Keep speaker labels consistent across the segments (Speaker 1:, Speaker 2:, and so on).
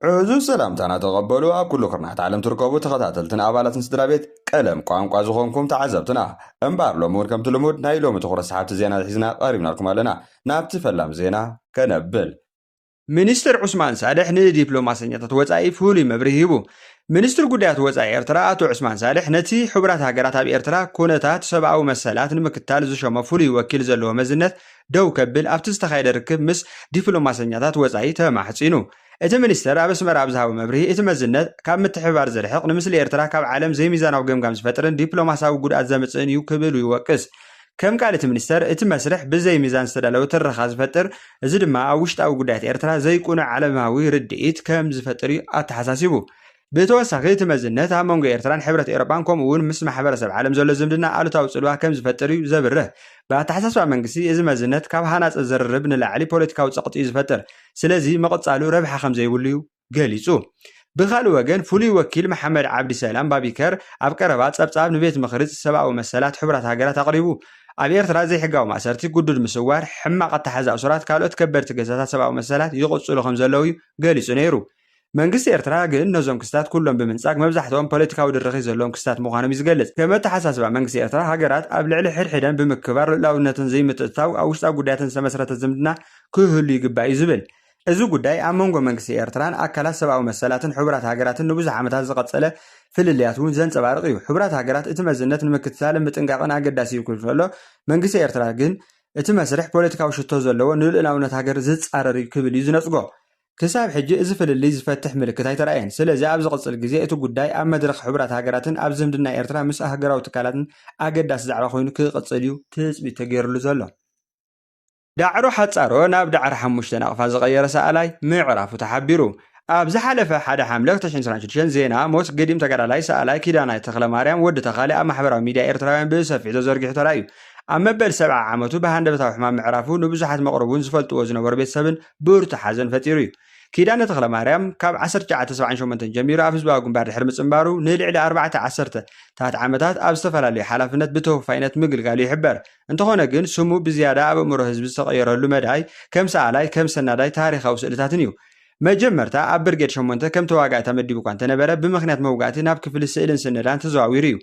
Speaker 1: ዕዙዝ ሰላምታና ተቐበሉ ኣብ ኩሉ ክርናሕት ዓለም ትርከቡ ተኸታተልትን ኣባላትን ስድራ ቤት ቀለም ቋንቋ ዝኾንኩም ተዓዘብትና። እምበኣር ሎሚ እውን ከምቲ ልሙድ ናይ ሎሚ ትኹረት ሰሓብቲ ዜና ሒዝና ቀሪብናልኩም ኣለና። ናብቲ ፈላም ዜና ከነብል። ሚኒስትር ዑስማን ሳልሕ ንዲፕሎማሰኛታት ወጻኢ ፍሉይ መብርሂ ሂቡ። ሚኒስትር ጉዳያት ወጻኢ ኤርትራ ኣቶ ዑስማን ሳልሕ ነቲ ሕቡራት ሃገራት ኣብ ኤርትራ ኩነታት ሰብኣዊ መሰላት ንምክታል ዝሸሞ ፍሉይ ወኪል ዘለዎ መዝነት ደው ከብል ኣብቲ ዝተኻየደ ርክብ ምስ ዲፕሎማሰኛታት ወጻኢ ተማሕጺኑ። እቲ ሚኒስተር ኣብ ኣስመራ ኣብ ዝሃቦ መብርሂ፣ እቲ መዝነት፣ ካብ ምትሕብባር ዝርሕቕ፣ ንምስሊ ኤርትራ ካብ ዓለም ዘይሚዛናዊ ገምጋም ዝፈጥርን ዲፕሎማስያዊ ጉድኣት ዘምጽእን እዩ ክብሉ ይወቅስ። ከም ቃል እቲ ሚኒስተር፣ እቲ መስርሕ ብዘይ ሚዛን ዝተዳለወ ትረኻ ዝፈጥር፣ እዚ ድማ ኣብ ውሽጣዊ ጉዳያት ኤርትራ ዘይቅኑዕ ዓለማዊ ርድኢት ከም ዝፈጥር እዩ ኣተሓሳሲቡ። ብተወሳኺ እቲ መዝነት ኣብ መንጎ ኤርትራን ሕብረት ኤውሮጳን ከምኡ እውን ምስ ማሕበረሰብ ዓለም ዘሎ ዝምድና ኣሉታዊ ጽልዋ ከም ዝፈጥር እዩ ዘብርህ። ብኣተሓሳስባ መንግስቲ እዚ መዝነት ካብ ሃናጺ ዝርርብ ንላዕሊ ፖለቲካዊ ጸቕጢ እዩ ዝፈጥር፣ ስለዚ ምቕጻሉ ረብሓ ከም ዘይብሉ እዩ ገሊጹ። ብኻልእ ወገን ፍሉይ ወኪል መሓመድ ዓብዲ ሰላም ባቢከር ኣብ ቀረባ ጸብጻብ ንቤት ምኽሪ ሰብኣዊ መሰላት ሕቡራት ሃገራት ኣቕሪቡ። ኣብ ኤርትራ ዘይሕጋዊ ማእሰርቲ፣ ግዱድ ምስዋር፣ ሕማቕ ኣተሓሕዛ እሱራት ካልኦት ከበድቲ ገሳታት ሰብኣዊ መሰላት ይቕጽሉ ከም ዘለዉ እዩ ገሊጹ ነይሩ። መንግስቲ ኤርትራ ግን ነዞም ክስታት ኩሎም ብምንጻግ መብዛሕትኦም ፖለቲካዊ ድርኺት ዘለዎም ክስታት ምዃኖም እዩ ዝገልጽ። ከም ኣተሓሳስባ መንግስቲ ኤርትራ ሃገራት ኣብ ልዕሊ ሕድሕደን ብምክብባር ልኡላውነትን ዘይምትእትታው ኣብ ውሽጣዊ ጉዳያተን ዝተመስረተ ዝምድና ክህሉ ይግባእ እዩ ዝብል። እዚ ጉዳይ ኣብ መንጎ መንግስቲ ኤርትራን ኣካላት ሰብኣዊ መሰላትን ሕቡራት ሃገራትን ንብዙሕ ዓመታት ዝቐጸለ ፍልልያት እውን ዘንጸባርቕ እዩ። ሕቡራት ሃገራት እቲ መዝነት ንምክትታልን ምጥንቃቕን ኣገዳሲ እዩ ክብል ከሎ መንግስቲ ኤርትራ ግን እቲ መስርሕ ፖለቲካዊ ሽቶ ዘለዎ ንልኡላውነት ሃገር ዝጻረር እዩ ክብል እዩ ዝነጽጎ። ክሳብ ሕጂ እዚ ፍልልይ ዝፈትሕ ምልክት ኣይተራእየን። ስለዚ ኣብ ዝቕጽል ግዜ እቲ ጉዳይ ኣብ መድረኽ ሕቡራት ሃገራትን ኣብ ዝምድና ኤርትራ ምስ ኣህገራዊ ትካላትን ኣገዳሲ ዛዕባ ኮይኑ ክቕጽል እዩ ትጽቢት ተገይርሉ ዘሎ። ዳዕሮ ሓጻሮ ናብ ዳዕሮ ሓሙሽተ ናቕፋ ዝቐየረ ሰኣላይ ምዕራፉ ተሓቢሩ። ኣብ ዝሓለፈ ሓደ ሓምለ ክልተ ሽሕን ዕስራን ሽዱሽተን ዜና ሞት ገዲም ተጋዳላይ ሰኣላይ ኪዳናይ ተኽለማርያም፣ ወዲ ተኻሊ፣ ኣብ ማሕበራዊ ሚድያ ኤርትራውያን ብሰፊሑ ተዘርጊሑ ተራእዩ። ኣብ መበል ሰብዓ ዓመቱ ብሃንደበታዊ ሕማም ምዕራፉ ንብዙሓት መቕርቡን ዝፈልጥዎ ዝነበሩ ቤተሰብን ብርቱዕ ሓዘን ፈጢሩ እዩ። ኪዳነ ተኽለማርያም ካብ ዓሰርተ ትሽዓተ ሰብዓን ሸሞንተን ጀሚሩ ኣብ ህዝባዊ ግንባር ድሕሪ ምጽንባሩ ንልዕሊ ኣርባዕተ ዓሰርተ ታት ዓመታት ኣብ ዝተፈላለዩ ሓላፍነት ብተወፋይነት ምግልጋሉ ይሕበር። እንተኾነ ግን ስሙ ብዝያዳ ኣብ ኣእምሮ ህዝቢ ዝተቐየረሉ መዳይ ከም ሰኣላይ፣ ከም ሰናዳይ ታሪኻዊ ስእልታትን እዩ። መጀመርታ ኣብ ብርጌድ ሸሞንተ ከም ተዋጋኢ ተመዲቡ እኳ እንተነበረ ብምኽንያት መውጋእቲ ናብ ክፍሊ ስእልን ስነዳን ተዘዋዊሩ እዩ።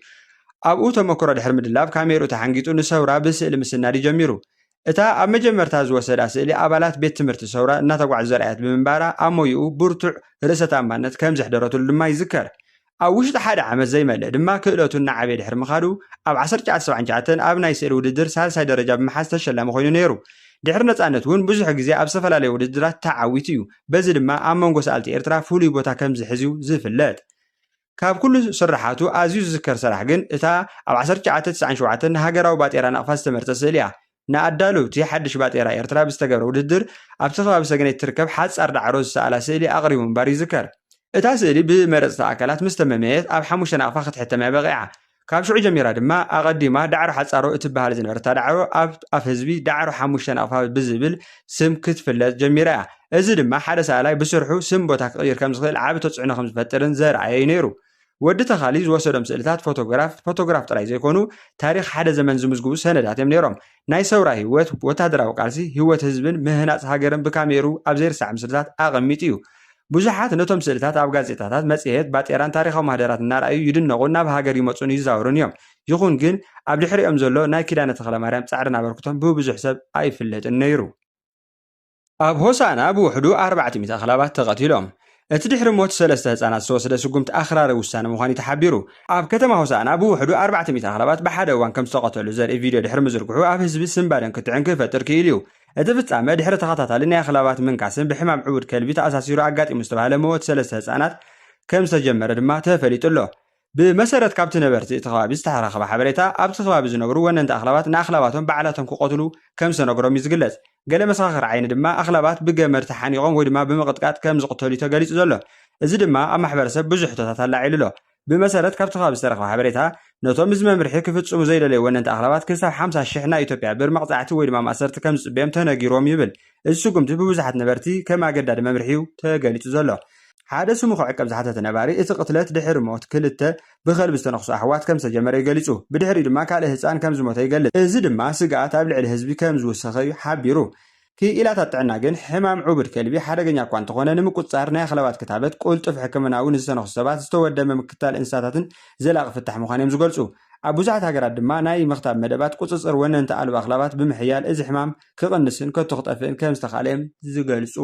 Speaker 1: ኣብኡ ተመክሮ ድሕሪ ምድላብ ካሜርኡ ተሓንጊጡ ንሰውራ ብስእሊ ምስናድ እዩ ጀሚሩ። እታ ኣብ መጀመርታ ዝወሰዳ ስእሊ ኣባላት ቤት ትምህርቲ ሰውራ እናተጓዕዙ ዘርኣየት ብምንባራ ኣብ ሞይኡ ብርቱዕ ርእሰ ተኣማንነት ከም ዘሕደረትሉ ድማ ይዝከር። ኣብ ውሽጢ ሓደ ዓመት ዘይመልእ ድማ ክእለቱ እናዓበየ ድሕሪ ምኻዱ ኣብ ዓሰርተ ትሽዓተ ሰብዓን ትሽዓተን ኣብ ናይ ስእሊ ውድድር ሳልሳይ ደረጃ ብምሓዝ ተሸላሚ ኮይኑ ነይሩ። ድሕሪ ነጻነት እውን ብዙሕ ግዜ ኣብ ዝተፈላለየ ውድድራት ተዓዊቱ እዩ። በዚ ድማ ኣብ መንጎ ሰኣልቲ ኤርትራ ፍሉይ ቦታ ከም ዝሕዝ'ዩ ዝፍለጥ። ካብ ኩሉ ስርሓቱ ኣዝዩ ዝዝከር ሰራሕ ግን እታ ኣብ ዓሰርተ ትሽዓተ ተስዓን ሸውዓተን ንሃገራዊ ባጤራ ናቕፋ ዝተመርጸት ስእሊ እያ። ንኣዳለውቲ ሓድሽ ባጤራ ኤርትራ ብዝተገብረ ውድድር ኣብቲ ከባቢ ሰገነይቲ ትርከብ ሓጻር ዳዕሮ ዝሰኣላ ስእሊ ኣቕሪቡ ምንባሩ ይዝከር። እታ ስእሊ ብመረጽቲ ኣካላት ምስ ተመመየት ኣብ ሓሙሽተ ናቕፋ ክትሕተም እያ በቒዓ። ካብ ሽዑ ጀሚራ ድማ ኣቐዲማ ዳዕሮ ሓጻሮ እትበሃል ዝነበረታ ዳዕሮ ኣብ ኣፍ ህዝቢ ዳዕሮ ሓሙሽተ ናቕፋ ብዝብል ስም ክትፍለጥ ጀሚራ እያ። እዚ ድማ ሓደ ሰኣላይ ብስርሑ ስም ቦታ ክቕይር ከም ዝኽእል ዓቢ ተጽዕኖ ከም ዝፈጥርን ዘርኣየ እዩ ነይሩ። ወዲ ተካሊ ዝወሰዶም ስእልታት ፎቶግራፍ ፎቶግራፍ ጥራይ ዘይኮኑ ታሪኽ ሓደ ዘመን ዝምዝግቡ ሰነዳት እዮም ነይሮም። ናይ ሰውራ ህይወት፣ ወታደራዊ ቃልሲ፣ ህይወት ህዝብን ምህናጽ ሃገርን ብካሜሩ ኣብ ዘይርሳዕ ምስልታት ኣቐሚጡ እዩ። ብዙሓት ነቶም ስእልታት ኣብ ጋዜጣታት፣ መጽሔት፣ ባጤራን ታሪኻዊ ማህደራት እናረኣዩ ይድነቑን ናብ ሃገር ይመጹን ይዛወሩን እዮም። ይኹን ግን ኣብ ድሕሪኦም ዘሎ ናይ ኪዳነ ተኽለማርያም ጻዕርን ኣበርክቶን ብብዙሕ ሰብ ኣይፍለጥን ነይሩ። ኣብ ሆሳእና ብውሕዱ ኣርባዕተ ሚእቲ ኣኽላባት ተቐቲሎም። እቲ ድሕሪ ሞት ሰለስተ ህጻናት ዝተወሰደ ስጉምቲ ኣኽራሪ ውሳነ ምዃኑ'ዩ ተሓቢሩ። ኣብ ከተማ ሆሳእና ብውሕዱ ኣርባዕተ ሚእቲ ኣኽላባት ብሓደ እዋን ከም ዝተቐተሉ ዘርኢ ቪድዮ ድሕሪ ምዝርግሑ ኣብ ህዝቢ ስንባደን ክትዕን ክፈጥር ክኢሉ'ዩ። እቲ ፍጻመ ድሕሪ ተኸታታሊ ናይ ኣኽላባት ምንካስን ብሕማም ዕቡድ ከልቢ ተኣሳሲሩ ኣጋጢሙ ዝተባህለ መወት ሰለስተ ህጻናት ከም ዝተጀመረ ድማ ተፈሊጡ'ሎ። ብመሰረት ካብቲ ነበርቲ እቲ ከባቢ ዝተረኸበ ሓበሬታ፣ ኣብቲ ከባቢ ዝነብሩ ወነንቲ ኣኽላባት ንኣኽላባቶም ባዕላቶም ክቐትሉ ከም ዝተነግሮም እዩ ዝግለጽ። ገለ መሰኻኽር ዓይኒ ድማ ኣኽላባት ብገመድ ተሓኒቖም ወይ ድማ ብምቕጥቃጥ ከም ዝቕተሉ'ዩ ተገሊጹ ዘሎ። እዚ ድማ ኣብ ማሕበረሰብ ብዙሕ ሕቶታት ኣላዒሉ ኣሎ። ብመሰረት ካብቲ ከባቢ ዝተረኽበ ሓበሬታ፣ ነቶም እዚ መምርሒ ክፍጽሙ ዘይደለዩ ወነንቲ ኣኽላባት ክሳብ ሓምሳ ሽሕ ናይ ኢትዮጵያ ብር መቕጻዕቲ ወይ ድማ ማእሰርቲ ከም ዝጽበዮም ተነጊሩዎም ይብል። እዚ ስጉምቲ ብብዙሓት ነበርቲ ከም ኣገዳዲ መምርሒ'ዩ ተገሊጹ ዘሎ። ሓደ ስሙ ክዕቀብ ዝሓተተ ነባሪ፣ እቲ ቅትለት ድሕሪ ሞት ክልተ ብኸልቢ ዝተነኽሱ ኣሕዋት ከም ዝተጀመረ'ዩ ገሊጹ። ብድሕሪኡ ድማ ካልእ ህጻን ከም ዝሞተ ይገልጽ። እዚ ድማ ስግኣት ኣብ ልዕሊ ህዝቢ ከም ዝውሰኸ'ዩ ሓቢሩ።
Speaker 2: ክኢላታት ጥዕና ግን ሕማም ዑቡድ ከልቢ ሓደገኛ እኳ እንተኾነ ንምቁጽጻር ናይ ኣኽላባት ክታበት፣ ቅልጡፍ ሕክምና'ውን ንዝተነኽሱ ሰባት ዝተወደበ ምክትታል እንስሳታትን ዘላቒ ፍታሕ ምዃኑ'ዮም ዝገልጹ። ኣብ ብዙሓት ሃገራት ድማ ናይ ምኽታብ መደባት ቁጽጽር ወነንቲ ኣልቦ ኣኽላባት ብምሕያል እዚ ሕማም ክቕንስን ከቶ ክጠፍእን ከም ዝተኻእለ'ዮም ዝገልጹ።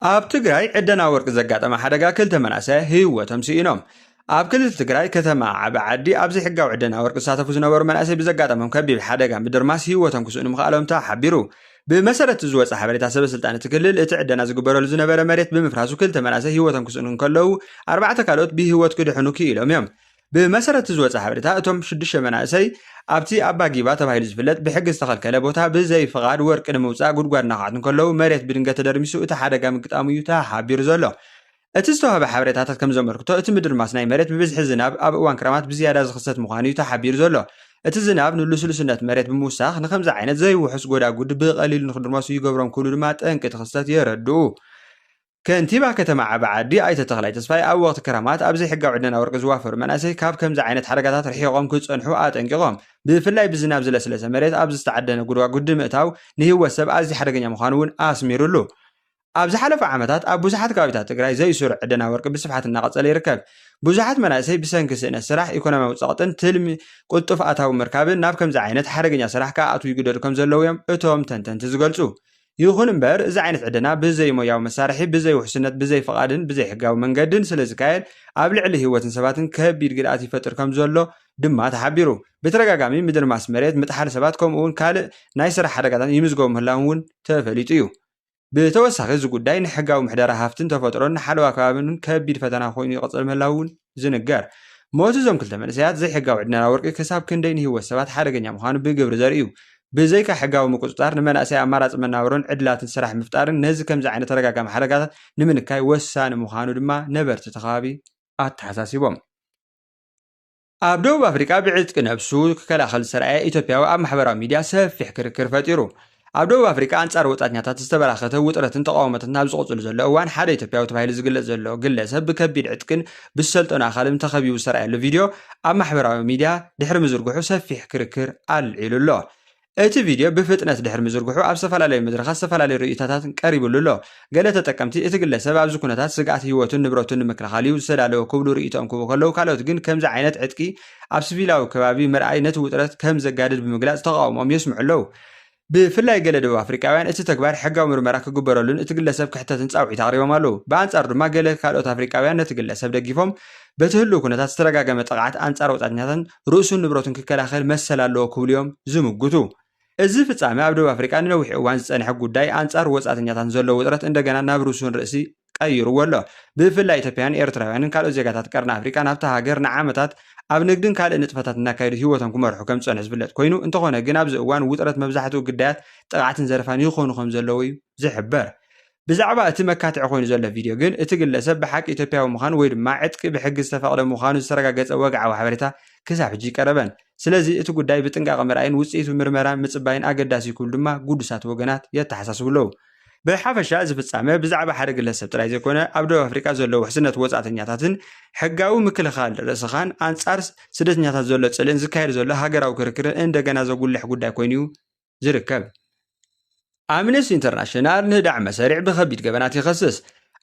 Speaker 2: ኣብ ትግራይ ዕደና ወርቂ ዘጋጠመ ሓደጋ ክልተ መናእሰይ ህይወቶም ስኢኖም። ኣብ ክልል ትግራይ ከተማ ዓበ ዓዲ ኣብ ዘይሕጋዊ ዕደና ወርቂ ዝሳተፉ ዝነበሩ መናእሰይ ብዘጋጠሞም ከቢብ ሓደጋ ምድርማስ ህይወቶም ክስእኑ ምኽኣሎም ተሓቢሩ። ብመሰረት ዝወፀ ሓበሬታ ሰበ ስልጣን እቲ ክልል እቲ ዕደና ዝግበረሉ ዝነበረ መሬት ብምፍራሱ ክልተ መናእሰይ ህይወቶም ክስእኑ እንከለዉ ኣርባዕተ ካልኦት ብህይወት ክድሕኑ ክኢሎም እዮም። ብመሰረት እቲ ዝወጸ ሓበሬታ፣ እቶም ሽዱሽተ መናእሰይ ኣብቲ ኣባ ጊባ ተባሂሉ ዝፍለጥ ብሕጊ ዝተኸልከለ ቦታ ብዘይ ፍቓድ ወርቂ ንምውጻእ ጉድጓድ እናዃዓቱ እንከለዉ መሬት ብድንገት ተደርሚሱ እቲ ሓደጋ ምግጣሙ እዩ ተሓቢሩ ዘሎ። እቲ ዝተዋህበ ሓበሬታታት ከምዘመልክቶ፣ እቲ ምድርማስ ናይ መሬት ብብዝሒ ዝናብ ኣብ እዋን ክረማት ብዝያዳ ዝኽሰት ምዃኑ እዩ ተሓቢሩ ዘሎ። እቲ ዝናብ ንልስሉስነት መሬት ብምውሳኽ ንከምዚ ዓይነት ዘይውሑስ ጎዳጉዲ ብቐሊሉ ንክድርመሱ ይገብሮም ክብሉ ድማ ጠንቂ እቲ ክስተት የረድኡ። ከንቲባ ከተማ ዓቢ ዓዲ ኣይተ ተኽላይ ተስፋይ ኣብ ወቕቲ ክራማት ኣብ ዘይሕጋዊ ዕደና ወርቂ ዝዋፈሩ መናእሰይ ካብ ከምዚ ዓይነት ሓደጋታት ርሒቖም ክፀንሑ ኣጠንቂቖም። ብፍላይ ብዝናብ ዝለስለሰ መሬት ኣብ ዝተዓደነ ጉድጓጉዲ ምእታው ንህይወት ሰብ ኣዝዩ ሓደገኛ ምዃኑ እውን ኣስሚሩሉ። ኣብ ዝሓለፉ ዓመታት ኣብ ብዙሓት ከባቢታት ትግራይ ዘይስሩዕ ዕደና ወርቂ ብስፍሓት እናቐፀለ ይርከብ። ብዙሓት መናእሰይ ብሰንኪ ስእነት ስራሕ፣ ኢኮኖሚያዊ ፀቕጥን ትልሚ ቅልጡፍ ኣታዊ ምርካብን ናብ ከምዚ ዓይነት ሓደገኛ ስራሕ ክኣትዉ ይግደዱ ከምዘለዉ እዮም እቶም ተንተንቲ ዝገልፁ። ይኹን እምበር እዚ ዓይነት ዕደና ብዘይሞያዊ መሳርሒ፣ ብዘይውሕስነት፣ ብዘይፍቓድን ብዘይሕጋዊ መንገድን ስለዝካየድ ኣብ ልዕሊ ህይወትን ሰባትን ከቢድ ግድኣት ይፈጥር ከምዘሎ ድማ ተሓቢሩ። ብተደጋጋሚ ምድርማስ መሬት፣ ምጥሓል ሰባት ከምኡ'ውን ካልእ ናይ ስራሕ ሓደጋታት ይምዝገቡ ምህላዎም እውን ተፈሊጡ እዩ። ብተወሳኺ እዚ ጉዳይ ንሕጋዊ ምሕደራ ሃፍትን ተፈጥሮን ንሓለዋ ከባቢን ከቢድ ፈተና ኮይኑ ይቕጽል ምህላዉ እውን ዝንገር። ሞት እዞም ክልተ መንእሰያት ዘይሕጋዊ ዕድናና ወርቂ ክሳብ ክንደይ ንህይወት ሰባት ሓደገኛ ምዃኑ ብግብሪ ዘርኢ እዩ። ብዘይካ ሕጋዊ ምቁጽጻር፣ ንመናእሰይ ኣማራጺ መናብሮን ዕድላትን ስራሕ ምፍጣርን ነዚ ከምዚ ዓይነት ተደጋጋሚ ሓደጋታት ንምንካይ ወሳኒ ምዃኑ ድማ ነበርቲ እቲ ከባቢ ኣተሓሳሲቦም። ኣብ ደቡብ ኣፍሪቃ ብዕጥቂ ነብሱ ክከላኸል ዝተራእየ ኢትዮጵያዊ ኣብ ማሕበራዊ ሚድያ ሰፊሕ ክርክር ፈጢሩ። ኣብ ደቡብ ኣፍሪቃ ኣንጻር ወጻእተኛታት ዝተበራኸተ ውጥረትን ተቓውሞታትን ኣብ ዝቕጽሉ ዘሎ እዋን ሓደ ኢትዮጵያዊ ተባሂሉ ዝግለጽ ዘሎ ግለ ሰብ ብከቢድ ዕጥቅን ብዝሰልጠኑ ኣኻልብን ተኸቢቡ ዝተራእየሉ ቪድዮ ኣብ ማሕበራዊ ሚድያ ድሕሪ ምዝርግሑ ሰፊሕ ክርክር ኣልዒሉ ኣሎ። እቲ ቪድዮ ብፍጥነት ድሕሪ ምዝርግሑ ኣብ ዝተፈላለዩ መድረኻት ዝተፈላለዩ ርእይቶታትን ቀሪብሉ ኣሎ። ገለ ተጠቀምቲ እቲ ግለ ሰብ ኣብዚ ኩነታት ስግኣት ህይወቱን ንብረቱን ንምክልኻል'ዩ ዝተዳለወ ክብሉ ርእይቶኦም ክህቡ ከለው ካልኦት ግን ከምዚ ዓይነት ዕጥቂ ኣብ ስቪላዊ ከባቢ ምርኣይ ነቲ ውጥረት ከም ዘጋድድ ብምግላጽ ተቓውሞኦም የስምዑ ኣለው። ብፍላይ ገለ ደቡብ ኣፍሪቃውያን እቲ ተግባር ሕጋዊ ምርመራ ክግበረሉን እቲ ግለሰብ ክሕተትን ጻውዒት ኣቕሪቦም ኣለዉ። ብኣንጻሩ ድማ ገለ ካልኦት ኣፍሪቃውያን ነቲ ግለሰብ ደጊፎም፣ በቲ ህሉው ኩነታት ዝተደጋገመ ጥቕዓት ኣንጻር ወጻእተኛታትን ርእሱን ንብረቱን ክከላኸል መሰል ኣለዎ ክብሉ'ዮም ዝምጉቱ። እዚ ፍጻመ ኣብ ደቡብ ኣፍሪቃ ንነዊሕ እዋን ዝጸንሐ ጉዳይ ኣንጻር ወጻእተኛታትን ዘሎ ውጥረት እንደገና ናብ ርሱን ርእሲ ቀይሩዎ ኣሎ። ብፍላይ ኢትዮጵያውያን፣ ኤርትራውያንን ካልኦት ዜጋታት ቀርኒ ኣፍሪቃ ናብታ ሃገር ንዓመታት ኣብ ንግድን ካልእ ንጥፈታትን እናካየዱ ህይወቶም ክመርሑ ከም ዝጸንሑ ዝፍለጥ ኮይኑ፣ እንተኾነ ግን ኣብዚ እዋን ውጥረት መብዛሕትኡ ግዳያት ጥቕዓትን ዘረፋን ይኾኑ ከም ዘለዉ'ዩ ዝሕበር። ብዛዕባ እቲ መካትዒ ኮይኑ ዘሎ ቪድዮ ግን፣ እቲ ግለሰብ ብሓቂ ኢትዮጵያዊ ምዃኑ ወይ ድማ ዕጥቂ ብሕጊ ዝተፈቕደ ምዃኑ ዝተረጋገጸ ወግዓዊ ሓበሬታ ክሳብ ሕጂ ኣይቀረበን። ስለዚ እቲ ጉዳይ ብጥንቃቐ ምርኣይን ውጽኢቱ ምርመራ ምጽባይን ኣገዳሲ'ዩ ክብሉ ድማ ግዱሳት ወገናት የተሓሳስቡ ኣለዉ። ብሓፈሻ እዚ ፍጻመ ብዛዕባ ሓደ ግለሰብ ጥራይ ዘይኮነ ኣብ ደቡብ ኣፍሪቃ ዘሎ ውሕስነት ወጻእተኛታትን ሕጋዊ ምክልኻል ርእስኻን ኣንጻር ስደተኛታት ዘሎ ጽልእን ዝካየድ ዘሎ ሃገራዊ ክርክርን እንደገና ዘጉልሕ ጉዳይ ኮይኑ እዩ ዝርከብ። ኣምነስቲ ኢንተርናሽናል ንህዳዕ መሰሪዕ ብከቢድ ገበናት ይኸስስ።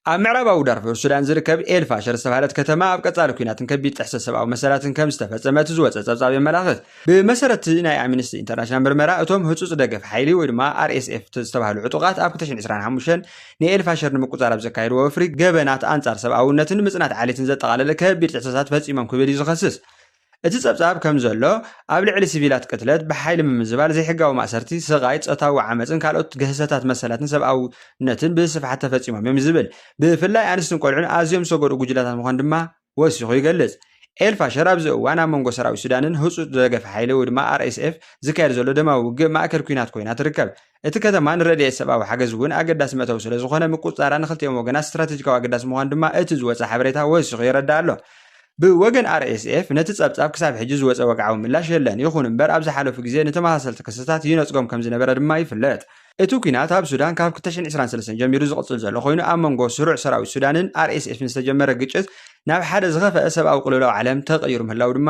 Speaker 2: ኣብ ምዕራባዊ ዳርፉር ሱዳን ዝርከብ ኤል ፋሸር ዝተባህለት ከተማ ኣብ ቀጻሊ ኲናትን ከቢድ ጥሕሰት ሰብኣዊ መሰላትን ከም ዝተፈጸመ እቲ ዝወጸ ጸብጻብ የመላኽት። ብመሰረት ናይ ኣምነስቲ ኢንተርናሽናል ምርመራ፣ እቶም ህጹጽ ደገፍ ሓይሊ ወይ ድማ ኣርኤስኤፍ ዝተባህሉ ዕጡቓት ኣብ 2025 ንኤል ፋሸር ንምቁጽጻር ኣብ ዘካየድዎ ወፍሪ ገበናት ኣንጻር ሰብኣውነትን ምጽናት ዓሌትን ዘጠቓለለ ከቢድ ጥሕሰታት ፈጺሞም ክብል እዩ ዝኸስስ። እቲ ጸብጻብ ከም ዘሎ፣ ኣብ ልዕሊ ሲቪላት ቅትለት፣ ብሓይሊ ምምዝባል፣ ዘይሕጋዊ ማእሰርቲ፣ ስቓይ፣ ጾታዊ ዓመጽን ካልኦት ግህሰታት መሰላትን ሰብኣውነትን ብስፍሓት ተፈጺሞም እዮም ዝብል። ብፍላይ ኣንስትን ቆልዑን ኣዝዮም ዝተጎድኡ ጉጅለታት ምዃን ድማ ወሲኹ ይገልጽ። ኤል-ፋሸር ኣብዚ እዋን ኣብ መንጎ ሰራዊት ሱዳንን ህጹጽ ደገፍ ሓይሊ ወይ ድማ RSF ዝካየድ ዘሎ ደማዊ ውግእ ማእከል ኲናት ኮይና ትርከብ። እቲ ከተማ ንረድኤት ሰብኣዊ ሓገዝ እውን ኣገዳሲ መእተዊ ስለ ዝኾነ ምቁጽጻራ ንክልቲኦም ወገናት ስትራተጂካዊ ኣገዳሲ ምዃኑ ድማ እቲ ዝወጸ ሓበሬታ ወሲኹ የረድእ ኣሎ። ብወገን RSF ነቲ ጸብጻብ ክሳብ ሕጂ ዝወጸ ወግዓዊ ምላሽ የለን፣ ይኹን እምበር ኣብ ዝሓለፉ ግዜ ንተመሳሰልቲ ክስታት ይነጽጎም ከም ዝነበረ ድማ ይፍለጥ። እቲ ኲናት ኣብ ሱዳን ካብ ክልተ ሽሕን ዕስራን ሰለስተን ጀሚሩ ዝቕጽል ዘሎ ኮይኑ፣ ኣብ መንጎ ስሩዕ ሰራዊት ሱዳንን RSFን ዝተጀመረ ግጭት ናብ ሓደ ዝኸፍኣ ሰብኣዊ ቅልውላው ዓለም ተቐይሩ ምህላዉ ድማ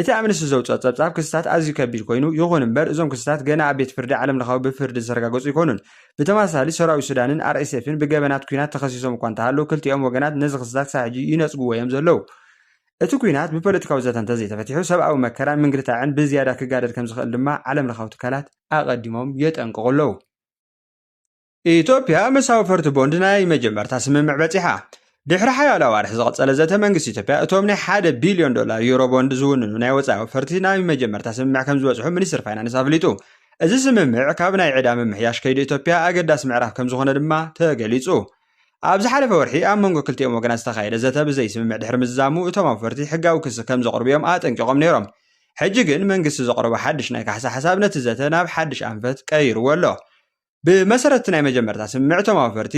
Speaker 2: እቲ ኣምነስቲ ዘውጽኦ ጸብጻብ ክስታት ኣዝዩ ከቢድ ኮይኑ፣ ይኹን እምበር እዞም ክስታት ገና ኣብ ቤት ፍርዲ ዓለምለኻዊ ብፍርዲ ዝተረጋገጹ ኣይኮኑን። ብተመሳሳሊ ሰራዊት ሱዳንን RSFን ብገበናት ኲናት ተኸሲሶም እኳ እንተሃለዉ ክልቲኦም ወገናት ነዚ ክስታት ክሳብ ሕጂ ይነጽግዎ እዮም ዘለዉ። እቲ ኲናት ብፖለቲካዊ ዘተ እንተዘይተፈቲሑ ሰብኣዊ መከራን ምንግልታዕን ብዝያዳ ክጋደድ ከምዝኽእል ድማ ዓለምለኻዊ ትካላት ኣቐዲሞም የጠንቅቑ ኣለዉ። ኢትዮጵያ ምስ ኣውፈርቲ ቦንድ ናይ መጀመርታ ስምምዕ በጺሓ። ድሕሪ ሓያሎ ኣዋርሕ ዝቐጸለ ዘተ መንግስቲ ኢትዮጵያ እቶም ናይ ሓደ ቢልዮን ዶላር ዩሮ ቦንድ ዝውንኑ ናይ ወጻኢ ኣውፈርቲ ናይ መጀመርታ ስምምዕ ከምዝበጽሑ ሚኒስትሪ ፋይናንስ ኣፍሊጡ። እዚ ስምምዕ ካብ ናይ ዕዳ ምምሕያሽ ከይዲ ኢትዮጵያ ኣገዳሲ ምዕራፍ ከምዝኾነ ድማ ተገሊጹ። ኣብ ዝሓለፈ ወርሒ ኣብ መንጎ ክልቲኦም ወገናት ዝተኻየደ ዘተ ብዘይስምምዕ ድሕሪ ምዝዛሙ እቶም ኣውፈርቲ ሕጋዊ ክሲ ከምዘቕርቡ'ዮም ኣጠንቂቖም ነይሮም። ሕጂ ግን መንግስቲ ዘቕረቦ ሓድሽ ናይ ካሕሳ ሓሳብ ነቲ ዘተ ናብ ሓድሽ ኣንፈት ቀይርዎ ኣሎ። ብመሰረት'ቲ ናይ መጀመርታ ስምምዕ'ቶም ኣውፈርቲ፣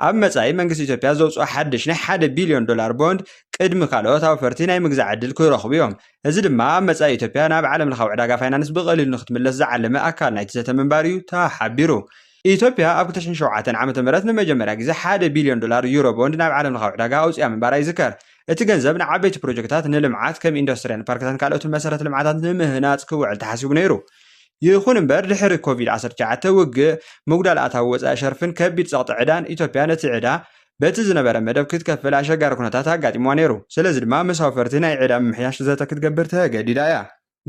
Speaker 2: ኣብ መጻኢ መንግስቲ ኢትዮጵያ ዘውጽኦ ሓድሽ ናይ ሓደ ቢልዮን ዶላር ቦንድ ቅድሚ ካልኦት ኣውፈርቲ ናይ ምግዛእ ዕድል ክረኽቡ'ዮም። እዚ ድማ ኣብ መጻኢ ኢትዮጵያ ናብ ዓለምለኻዊ ዕዳጋ ፋይናንስ ብቐሊሉ ንኽትምለስ ዝዓለመ ኣካል ናይቲ ዘተ ምንባሩ'ዩ ተሓቢሩ። ኢትዮጵያ ኣብ ክልተ ሽሕን ሸውዓተን ዓመተ ምህረት ንመጀመርያ ግዜ ሓደ ቢልዮን ዶላር ዩሮ ቦንድ ናብ ዓለምለኻዊ ዕዳጋ ኣውጺኣ ምንባራ ይዝከር። እቲ ገንዘብ ንዓበይቲ ፕሮጀክታት ንልምዓት ከም ኢንዱስትርያን ፓርክታትን ካልኦትን መሰረተ ልምዓታት ንምህናጽ ክውዕል ተሓሲቡ ነይሩ። ይኹን እምበር ድሕሪ ኮቪድ ዓሰርተ ትሽዓተ ውግእ፣ ምጉዳል ኣታዊ ወፃኢ ሸርፍን ከቢድ ፀቕጢ ዕዳን ኢትዮጵያ ነቲ ዕዳ በቲ ዝነበረ መደብ ክትከፍል ኣሸጋሪ ኩነታት ኣጋጢምዋ ነይሩ። ስለዚ ድማ ምስ ኣውፈርቲ ናይ ዕዳ ምምሕያሽ ዘተ ክትገብር ተገዲዳ እያ።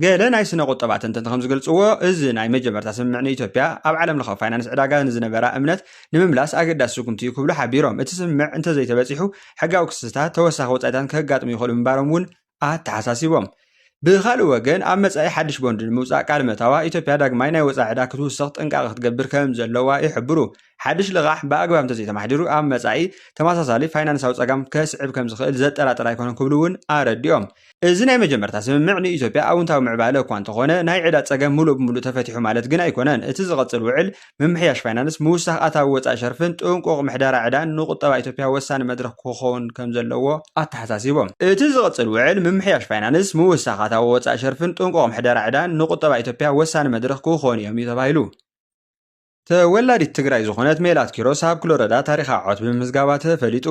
Speaker 2: ገለ ናይ ስነ ቁጠባ ተንተንቲ ከምዝገልፅዎ እዚ ናይ መጀመርታ ስምምዕ ንኢትዮጵያ ኣብ ዓለም ለኻዊ ፋይናንስ ዕዳጋ ንዝነበራ እምነት ንምምላስ ኣገዳሲ ስጉምቲ እዩ ክብሉ ሓቢሮም። እቲ ስምምዕ እንተዘይተበፂሑ ሕጋዊ ክስታት፣ ተወሳኺ ወፃኢታትን ከጋጥሙ ይኽእሉ ምንባሮም እውን ኣተሓሳሲቦም። ብኻልእ ወገን ኣብ መጻኢ ሓድሽ ቦንድ ንምውጻእ ቃል መታዋ ኢትዮጵያ ዳግማይ ናይ ወጻኢ ዕዳ ክትውስኽ ጥንቃቐ ክትገብር ከም ዘለዋ ይሕብሩ። ሓድሽ ልቓሕ ብኣግባብ እንተዘይተማሕዲሩ ኣብ መጻኢ ተመሳሳሊ ፋይናንሳዊ ጸጋም ከስዕብ ከም ዝኽእል ዘጠራጥር ኣይኮነን ክብሉ እውን ኣረዲኦም። እዚ ናይ መጀመርታ ስምምዕ ንኢትዮጵያ ኣውንታዊ ምዕባለ እኳ እንተኾነ ናይ ዕዳ ጸገም ምሉእ ብምሉእ ተፈቲሑ ማለት ግን ኣይኮነን። እቲ ዝቕጽል ውዕል ምምሕያሽ ፋይናንስ፣ ምውሳኽ ኣታዊ ወፃኢ ሸርፍን ጥንቁቕ ምሕደራ ዕዳን ንቁጠባ ኢትዮጵያ ወሳኒ መድረኽ ክኾን ከምዘለዎ ኣተሓሳሲቦም። እቲ ዝቕፅል ውዕል ምምሕያሽ ፋይናንስ፣ ምውሳኽ ኣታዊ ወፃኢ ሸርፍን ጥንቁቕ ምሕደራ ዕዳን ንቁጠባ ኢትዮጵያ ወሳኒ መድረኽ ክኾኑ እዮም እዩ ተባሂሉ። ተወላዲት ትግራይ ዝኾነት ሜላት ኪሮስ ኣብ ክሎረዳ ታሪኻዊ ዓወት ብምምዝጋባ ተፈሊጡ።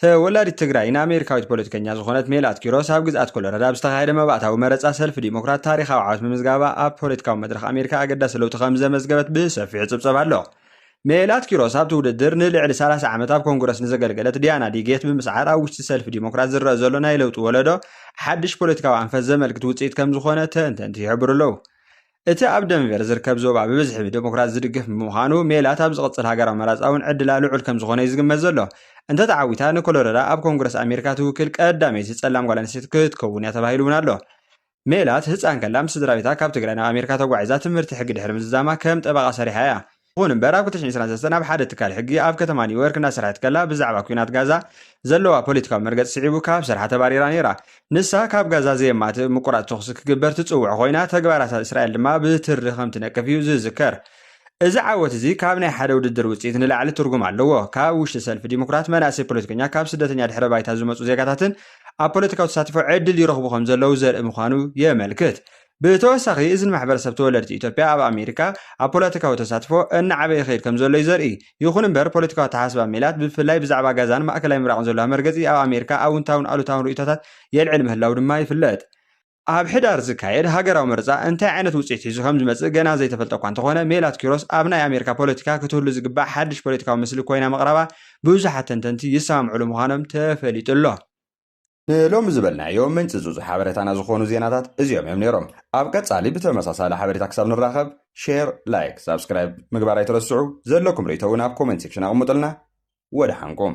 Speaker 2: ተወላዲት ትግራይ ን ኣሜሪካዊት ፖለቲከኛ ዝኾነት ሜላት ኪሮስ ኣብ ግዝኣት ኮሎራዶ ኣብ ዝተኻየደ መባእታዊ መረጻ ሰልፊ ዲሞክራት ታሪኻዊ ዓወት ምምዝጋባ ኣብ ፖለቲካዊ መድረኽ ኣሜሪካ ኣገዳሲ ለውጢ ከም ዘመዝገበት ብሰፊሑ ይጽብጸብ ኣሎ። ሜላት ኪሮስ ኣብቲ ውድድር ንልዕሊ 30 ዓመት ኣብ ኮንግረስ ንዘገልገለት ዲያና ዲጌት ብምስዓር ኣብ ውሽጢ ሰልፊ ዲሞክራት ዝረኣ ዘሎ ናይ ለውጢ ወለዶ ሓድሽ ፖለቲካዊ ኣንፈት ዘመልክት ውጽኢት ከም ዝኾነ ተንተንቲ ይሕብሩ ኣለዉ። እቲ ኣብ ደንቨር ዝርከብ ዞባ ብብዝሒ ብደሞክራት ዝድገፍ ብምዃኑ፣ ሜላት ኣብ ዝቕጽል ሃገራዊ መረጻ እውን ዕድላ ልዑል ከም ዝዀነ'ዩ ዝግመት ዘሎ። እንተ ተዓዊታ፣ ንኮሎረዳ ኣብ ኮንግረስ ኣሜሪካ ትውክል ቀዳመይቲ ጸላም ጓል ኣንስተይቲ ክትከውን'ያ ተባሂሉ'ውን ኣሎ። ሜላት ህጻን ከላ ምስ ስድራቤታ ካብ ትግራይ ናብ ኣሜሪካ ተጓዒዛ ትምህርቲ ሕጊ ድሕሪ ምዝዛማ ከም ጠበቓ ሰሪሓ'ያ። ይኹን እምበር ኣብ ክልተ ሽሕ ዕስራን ሰለስተን ኣብ ሓደ ትካል ሕጊ ኣብ ከተማ ኒውዮርክ እናሰርሐት ከላ ብዛዕባ ኲናት ጋዛ ዘለዋ ፖለቲካዊ መርገጺ ስዒቡ ካብ ስርሓ ተባሪራ ነይራ። ንሳ ካብ ጋዛ ዘየማትእ ምቁራጽ ተኹሲ ክግበር ትጽውዕ ኮይና፣ ተግባራታ እስራኤል ድማ ብትሪ ከም ትነቅፍ እዩ ዝዝከር። እዚ ዓወት እዚ ካብ ናይ ሓደ ውድድር ውጽኢት ንላዕሊ ትርጉም ኣለዎ። ካብ ውሽጢ ሰልፊ ዲሞክራት መናእሰይ ፖለቲከኛ ካብ ስደተኛ ድሕረ ባይታ ዝመጹ ዜጋታትን ኣብ ፖለቲካዊ ተሳትፎ ዕድል ይረኽቡ ከም ዘለዉ ዘርኢ ምዃኑ የመልክት። ብተወሳኺ እዚ ንማሕበረሰብ ተወለድቲ ኢትዮጵያ ኣብ ኣሜሪካ ኣብ ፖለቲካዊ ተሳትፎ እናዓበየ ይኸይድ ከምዘሎ'ዩ ዘርኢ። ይኹን እምበር ፖለቲካዊ ኣተሓሳስባ ሜላት ብብፍላይ ብዛዕባ ጋዛን ማእከላይ ምብራቕን ዘሎዋ መርገጺ ኣብ ኣሜሪካ ኣውንታውን ኣሉታውን ርእይቶታት የልዕል ምህላዉ ድማ ይፍለጥ። ኣብ ሕዳር ዝካየድ ሃገራዊ ምርጻ እንታይ ዓይነት ውጽኢት ሒዙ ከምዝመጽእ ገና ዘይተፈልጠ'ኳ እንተኾነ፣ ሜላት ኪሮስ ኣብ ናይ ኣሜሪካ ፖለቲካ ክትህሉ ዝግባእ ሓድሽ ፖለቲካዊ ምስሊ ኮይና ምቕራባ ብዙሓት ተንተንቲ ይሰማምዕሉ ምዃኖም ተፈሊጡ'ሎ። ንሎሚ
Speaker 1: ዝበልናዮ ምንጽጹጽ ሓበረታና ዝኾኑ ዜናታት እዚኦም እዮም ነይሮም። ኣብ ቀጻሊ ብተመሳሳሊ ሓበሬታ ክሳብ ንራኸብ ሼር፣ ላይክ፣ ሳብስክራይብ ምግባር ኣይትረስዑ። ዘለኩም ርእይቶ እውን ኣብ ኮመንት ሴክሽን ኣቕምጡልና። ወደሓንኩም።